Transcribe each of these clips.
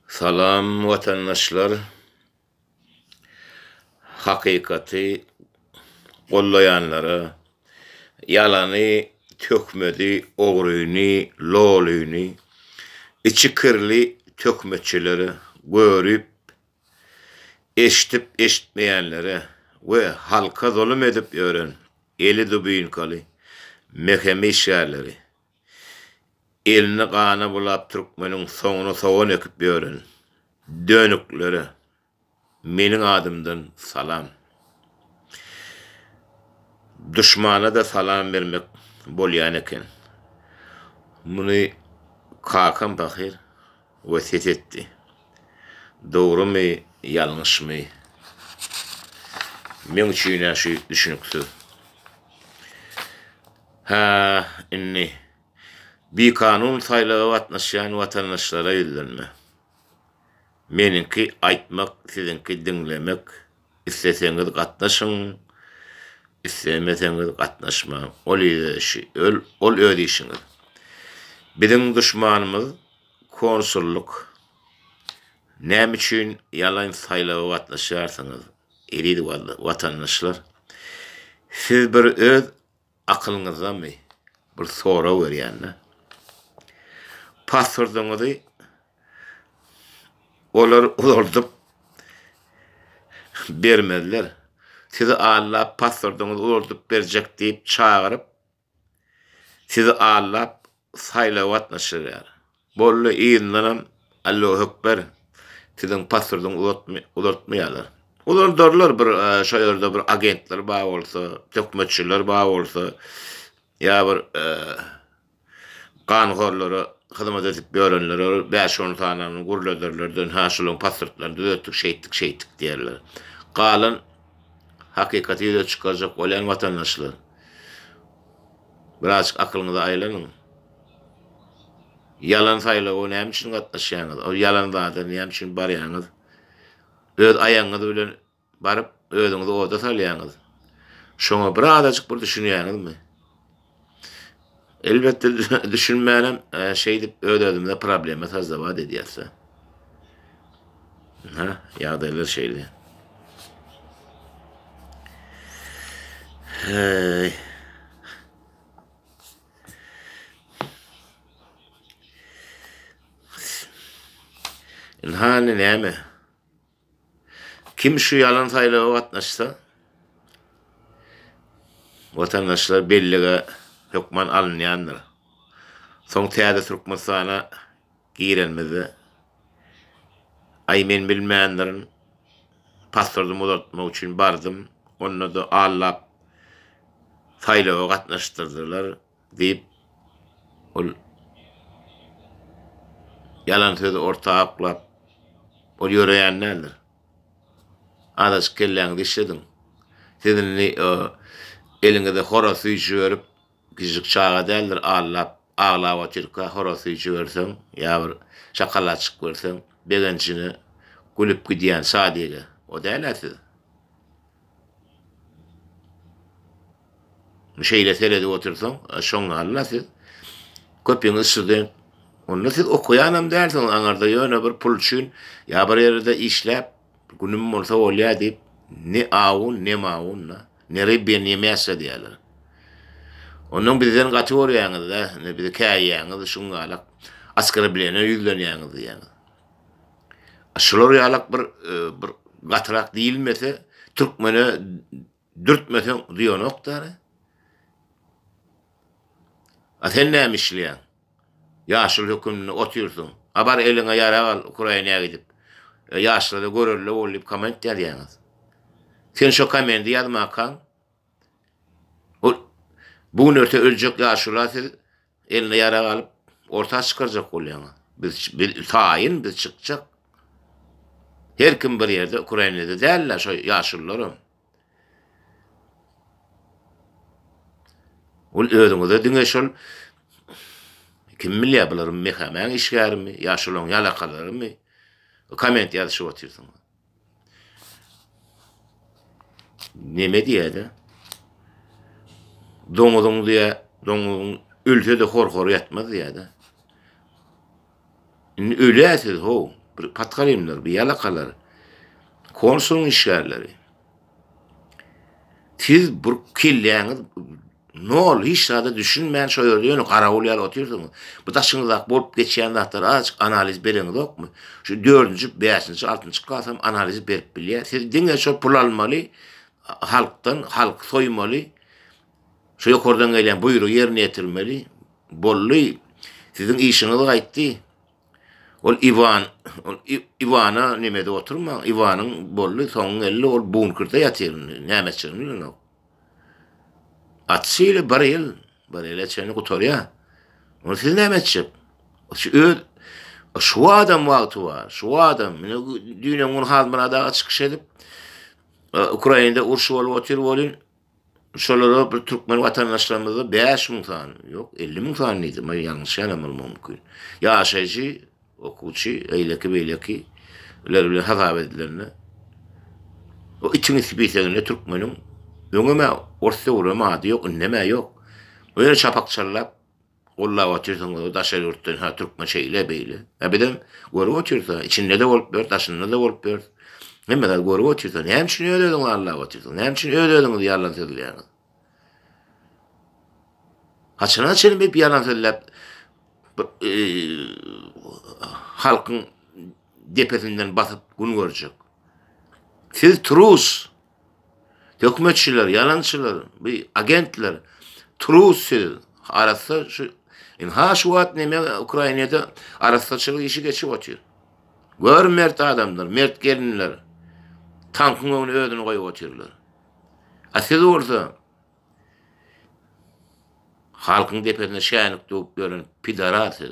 Salam watandaşlar hakykaty gollaýanlara ýalany töhmedi ogryny lolyny içi kirli töhmetçilere görüp eşdip eşitmeýänlere we halka zulum edip ýören eli dubinkaly mehem işgärleri Elini gana bulap türkmeniň soňuna sogan ekip ýören dönüklere meniň adymdan salam. Duşmana-da salam bermek bolýan eken. Muny kakam pahyr wesýet etdi. Dogrumy, ýalňyşmy, meň üçin-ä şu düşüniksiz. Hä, indi, bikanun saýlawa gatnaşýan watandaşlara ýüzlenme. Meniňki aýtmak, siziňki diňlemek, isleseňiz gatnaşyň, islemeseňiz gatnaşmaň, ol öz işi, ol öz işiňiz. Biziň duşmanymyz konsullyk. Näme üçin ýalan saýlawa gatnaşýarsyňyz, eziz watandaşlar? Siz bir öz Akylyňyzdamy? Bir sorag berýän-de. Paspordyňyzy olar uzaldyp bermezler. Sizi allap paspordyňyzy uzaldyp berjek diýip çagyryp, sizi allap saýlawa gatnaşdyrýar. Boldy yzyndanam Allohuekber siziň pasportyňy uzatmy uzaltmaýarlar. Uzaldarlar bir şo ýerde bir agentler bar bolsa, töhmetçiler bar bolsa ýa bir ganhorlara hyzmat edip ýörenlere bir bäş on sanyny gürlederler dönha şolaryň pasportlaryny düzetdik şeýtdik şeýtdik diýerler. Galan hakykaty ýüze çykarjak bolýan watandaşlar. Birazjyk akylyňyzy aýlanyň. Ýalan saýlawa näme üçin gatnaşýaňyz? Ol ýalan zada näme üçin barýaňyz? Öz aýagyňyz bilen baryp, özüňizi oda salýaňyz. Şoňa birazajyk bir düşünýäňizmi? Elbetde düşünmänem şeýdip öz-özümize problema sazzabat edýäs-de. Ha, ýagdaýlar şeýle. Hey. Hany näme? Kim şu ýalan saýlawa gatnaşsa, watandaşlar bellige hökman alynýandyr. Soň täze Türkmenistana Girenimizde, Aý, men bilmändirin, pasportymy uzaltmak üçin bardym, onda-da Allap saýlawa gatnaşdyrdylar, diýip, ol ýalan sözi orta oklap, ol ýöreýän däldir. Azajyk kelläňizi işlediň. Siz indi o eliňize horaz süýji berip, Kiçijik çaga däldir allap aglap otyrka horaz süýji berseň ýa bir şakalaçyk berseň begenjine gülüp gidýän şadyge o dälä siz. Şeýle seredip otyrsaň şoň alla siz. Köpiňiz student. Onda siz okaýanam dälsiňiz aňarda ýöne bir pul üçin ýa bir ýerde işläp günüm bolsa bolýa diýip ne awun ne mawun da. Neribien ýemesge diýerler. Ondan bizden gaty görýäňiz-dä, indi bizi käýýäňiz, şuň ýalak oskrebleniýa ýüzlenýäňiz diýýäňiz. Şular ýalak bir bir gatyrak diýilmese, türkmene dürtmeseň zyýanok-da. A sen näme işleýäň? Ýaşul höküminde otyrsyň. A bar eliňe ýarag al Ukrainä gidip. Ýaşlara görelde bol diýip koment ýazýaňyz. Sen şo komendi ýazmakaň ol bu gün erte öljek ýaşula siz eline ýarag alyp orta çykarjak bolýaňyz. Biz biz taýyn biz çykjak. Her kim bir ýerde Ukrainede dällä şo ýaşulularam. Ol özüňize diňe şol Kim bilýär bular Mehamäň işgärimi ýa şolaryň ýalakalarymy komment ýazyşyp otyrsyňyz. Neme diýäýdä? Doňuzyň diýä, doňuzyň ölse-de hor-hor ýatmaz diýäýdä. Indi ölýä siz how bir patgarimler bir ýalakalar konsulyň işgärleri siz bir kelläňiz nol hiç zada düşünmän şo ýerde ýöne garawul ýaly otyrsyňyz bu daşyňyzdaky bolup geçýän zatlar azajyk analiz bereňizokmy şu dördünji bäşinji altynjy klasam analiz berip bilýä siz diňe şo pul almaly halkdan halky soýmaly Şu ýokardan gelýän buýrugy ýerine ýetirmeli. Boldy. Siziň işiňiz gaýtdy. Ol Iwan, ol Iwana neme edip oturmaň. Iwanyň boldy, soňy geldi, ol bunkerde ýatyr indi. Nämeçigini bilenok. At şeýle bir ýyl, bir ýyla çenli gutarýar. Ony siz näme etjek? Şu öz şu adam wagty bar. Şu adam mine düýn gün Hazmyrat aga çykyş edip, Ukrainada urşy bolup otyr bolýar. Şolara bir türkmen watandaşlarymyzda bäş müň sany, ýok, elli müň sany diýdi, men ýalňyşýanam bolmagym mümkin. Ýaşaýjy, okuwçy, eýleki-beýleki ler bilen hasap edilende, o itiň isi piseginde türkmeniň öňem-ä ors döwrem ady ýok, indem-ä ýok. O ýene çapak çallap, Gollap otyrsyň özi daşary ýurtdan ha türkmen şeýle beýle. A bizem görüp otyrys a içinde-de bolup ýörüs daşynda-da bolup ýörüs. Hemme zat görüp otyrys a näme üçin öz özüňizi allap otyrsyň näme üçin öz özüňizi ýalan sözleýäňiz. Haçana çenli bip ýalan sözläp halkyň depesinden basyp gün görjek. Siz trus Töhmetçiler, ýalançylar, bu agentler, trus siz. Arassa şu, in ha şu wagt neme Ukrainada arassaçylyk işi geçip otyr. Gör mert adamlar, mert gelinler. Tankyň öňüne özüni goýup otyrlar. A siz bolsa halkyň depesine şänik döwüp ýören pidarat siz.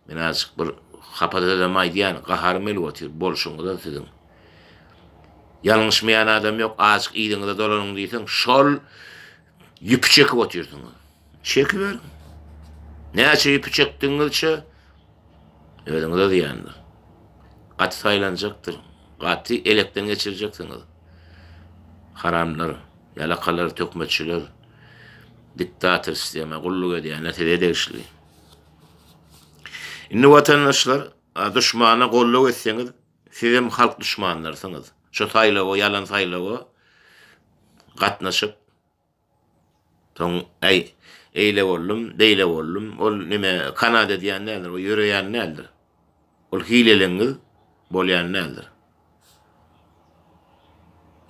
Men azjyk bir hapa sözem aýdýan, gaharym gelip otyr, bolşuňyzam siziň. Ýalňyşmaýan adam ýok, azjyk yzyňyza dolanyň diýseň, şol ýüpi çekip otyrsyňyz. Çekiberiň. Näçe ýüpi çekdigiňizçe özüňize zyýandyr. Gaty saýlanjakdyr, gaty elekden geçirjeksiňiz. Haramlar, ýalakalar, töhmetçiler, diktator sistema gulluk edýänler size degişli. Indi watandaşlar duşmana gollag etseňiz sizem halk duşmanlarsyňyz şo saýlawa ýalan saýlawa gatnaşyp soň äý eýle boldum beýle boldum ol nime kanada diýen däldir o ýöreýän däldir. Ol hileleňňiz bolýan däldir.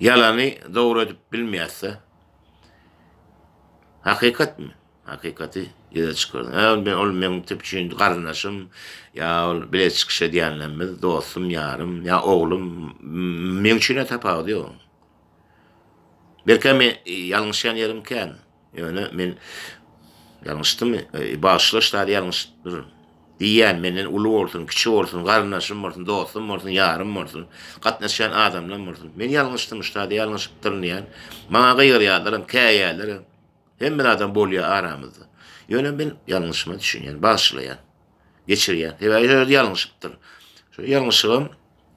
Ýalany dogry edip bilmeýäs-dä. Hakykatmy? Hakykaty ýüze çykardyň. Hä, men ol meniň tüp üçin garyndaşym, ýa ol bile çykyş edýänlerimiz, dostum, ýarym, ýa oglum, m-m-m meň üçin-ä tapawudy ýok. Belkäm men ýalňyşýan ýerim kän. Ýöne men ýalňyşdymy? Bagyşla, ştaly ýalňyşdypdyr. Diýýän, menden uly bolsun, kiçi bolsun, garyndaşym bolsun, dostum bolsun, ýarym bolsun, gatnaşýan adamlam bolsun. Men ýalňyşdym, ştaly ýalňyşypdyryn diýýän. Maňa gygyrýarlaram, käýýärlerem. Hemme zadam bolýar aramyzda. Ýöne men ýalňyşyma düşünýän, bagyşlaýan, geçirýän. Sebäbi ýalňyşypdyr. Şo ýalňyşygam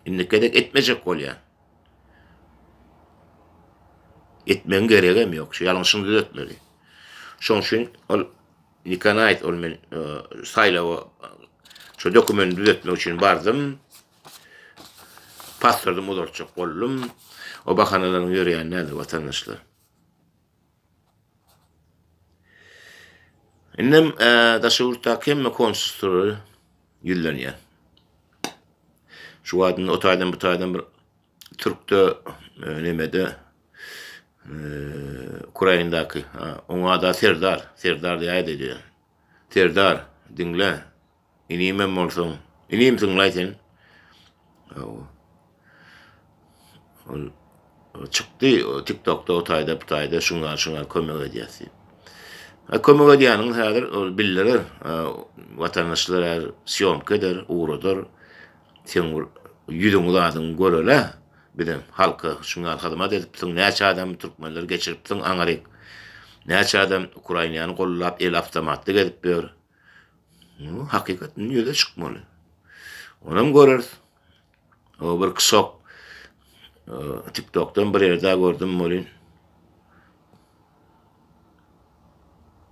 indiki gezek etmejek bolýan. Etmegiň geregem ýok. Şu ýalňyşyny düzetmeli. Şoň üçin ol Nikana aýt, ol men e, saýlawa şu dokumenti düzetmek üçin bardym. Pasportym uzaltjak boldum. O bahanalaryň ýöreýän näme watandaşlar. Indem daşary ýurtdaky hemme konsulstlara ýüzlenýär. Şu wagt indi o taýdan bu taýdan bir türkde nemede Ukrainadaky oňa da serdar, serdar diýäýdi diýýär. Serdar, diňle, Inimem bolsaň, inimsiň-laý sen. Hawa. Ol çykdy, TikTokda o taýda, bu taýda şuňa, şuňa kömek edýäs diýip. Ha kömek edýäniňiz häzir ol bildirer, watandaşlar häzir sýomka eder, ugradar. Seň bir ýüzüňi zadyňy görele, biziň halka şuň ýaly hyzmat edipsiň, näçe adamy türkmenleri geçiripsiň, aňryk. Näçe adam Ukrainany goldap, el awtomatly gezip ýör. Ýöne hakykat indi ýüze çykmaly. Onam göreris. O bir kysok TikTokdan bir ýerde gördüm bolin.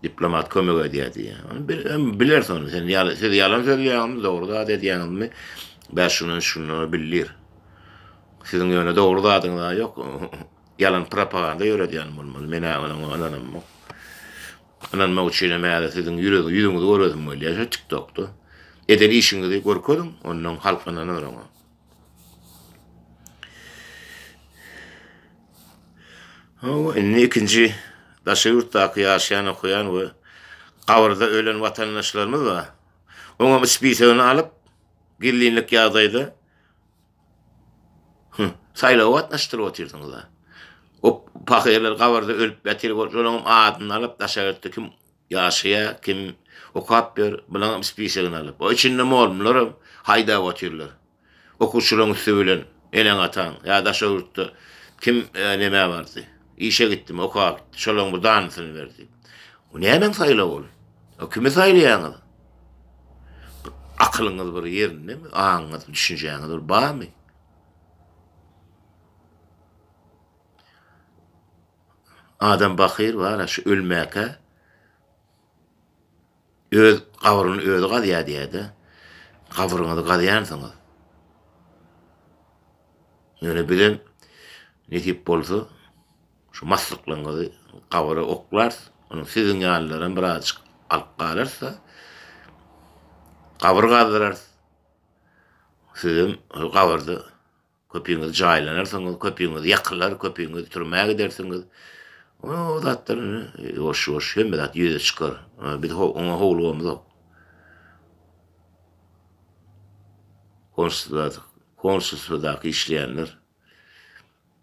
Diplomat kömek edýär diýýär. Onu bir biler sonra sen ýaly siz ýalan söýýäňmi, dogry zat edýäňmi? Bäş şundan şundan bildir. Siziň ýöne dogry zadyňyz ýok. Ýalan propaganda ýöredýän bolmaly. Men ýa onuň ynanamok. Ynanmak üçinem häzir siziň ýüziňizi göresim gelýär şo tiktokda. Eden işiňizi görkeziň, ondan halk ynanar oňa. Hawa, indi ikinji daşary ýurtdaky ýaşaýan, okaýan we gabyrda ölen watandaşlarymyz bar. Oňam spisigyny alyp, gizlinlik ýagdaýda Hüh, saýlawa gatnaşdyryp otyrsyňyz-a. O pahyrlar gabarda ölüp ýatyr bolup, şolaňam adyny alyp, daşagtda kim ýaşaýar, kim okap ýör, bulaňam spisogyn alyp, o içinde molmlaram haýdap otyrlar. Okuwçylaň üsti bilen eneň-ataň, ýa daşagtda kim nämä bardy, işe gitdimi, okap gitdi, şolaň bir danysyny ber diýip. O nämäň saýlawy ol? O kimi saýlaýaňyz? Akylyňyz bir ýerindemi? Aňyňyz, düşünjäňiz bir barmy? Adam bakyr bar-a şu ölmäkä öz gabryny özi gazýar diýýär-de. Gabryňyzy gazýansyňyz. Ýöne bizem nesip bolsa Şu maslyklygyňyzy gabara oklars, onuň siziň ýalylaram birazajyk alyp galarys-da, gabyr gazdyrarys. Sizem şol gabyrda köpiňiz jaýlanarsyňyz, köpiňiz ýakylar, köpiňiz türmä gidersiňiz. O zatlar indi ýuwaş-ýuwaş hemme zat ýüze çykar. Biz oňa howlugamyzok. Konsulstwada, konsulstwadaky işleýänler.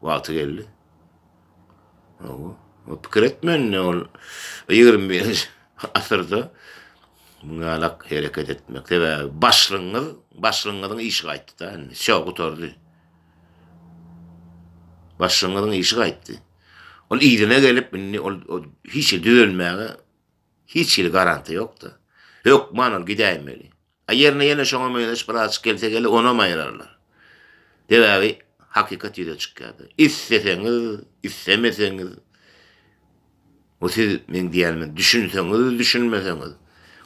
Wagty geldi. Owo. O pikir etmänini ol ýigrimi birinji asyrda muň ýalak hereket etmek. Sebäbi başlygyňyz, başlygyňyzyň işi gaýtdy-da indi. Şo gutardy. Başlygyňyzyň işi gaýtdy. Ol yzyna gelip indi ol hiç hili düzelmäge hiç hili garantiýa ýok-da. Hökman ol gidäýmeli. A ýerine ýene şoňa meňzeş bir aşyk gelse gele onam aýyrarlar. Sebäbi hakykat ýüze çykýardy. Isleseňiz, islemeseňiz bu siz meň diýenime düşünseňiz, düşünmeseňiz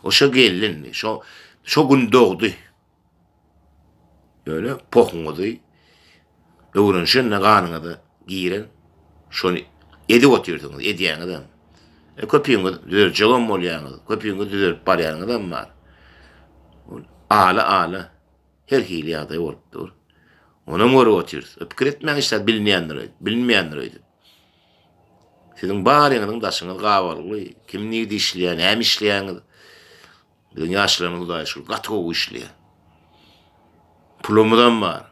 o şo gelindi, şo şo gün dogdy. Ýöne pohuňyzy Öwrenişende ganyňyza giren şony edip otyrsyňyz, edýäňizem. Köpüňiz düzeljegem bolýaňyz, köpüňiz düzelip barýanyňyzam bar. Ala-ala her hili ýagdaý bolup dur. Onam görüp otyrys. Pikir etmäň hiç zat bilinýändir, bilinmeýändir öýdüp. Siziň baryňyzyň daşyňyz gabalgly, kim nirde işleýär, näme işleýäňiz, Biziň ýaşlarymyz hudaýa şükür gaty gowy işleýär. Pulumyzam bar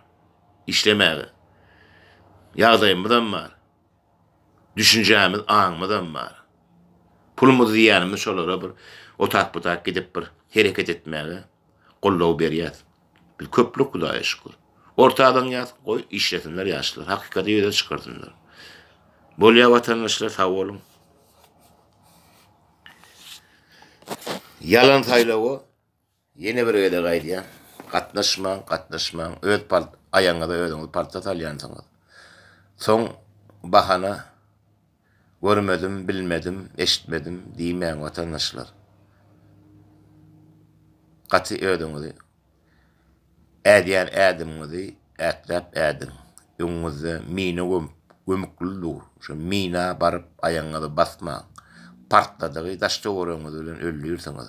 işlemäge. Ýagdaýymyzam bar. Düşünjämiz, aňymyzam bar. Pulumyzy diýýänimiz şolara bir otak-butak gidip bir hereket etmäge goldaw berýäs. Biz köplük hudaýa şükür. Orta alynýas, goý işlesinler ýaşlar, hakykaty ýüze çykarsynlar. Bolýa watandaşlar sag boluň. Ýalan saýlawa ýene bir gezek aýdýan gatnaşmaň gatnaşmaň öz palt aýagyňyza özüňiz palta salýansyňyz soň bahana görmedim bilmedim eşitmedim diýmäň watandaşlar gaty özüňizi Ädýän ädimiňizi ätläp ädiň. Öňüňizde mina gömükli dur. Şo mina baryp aýagyňyzy basmaň. Partladygy daş-töweregiňiz bilen öldürsiňiz.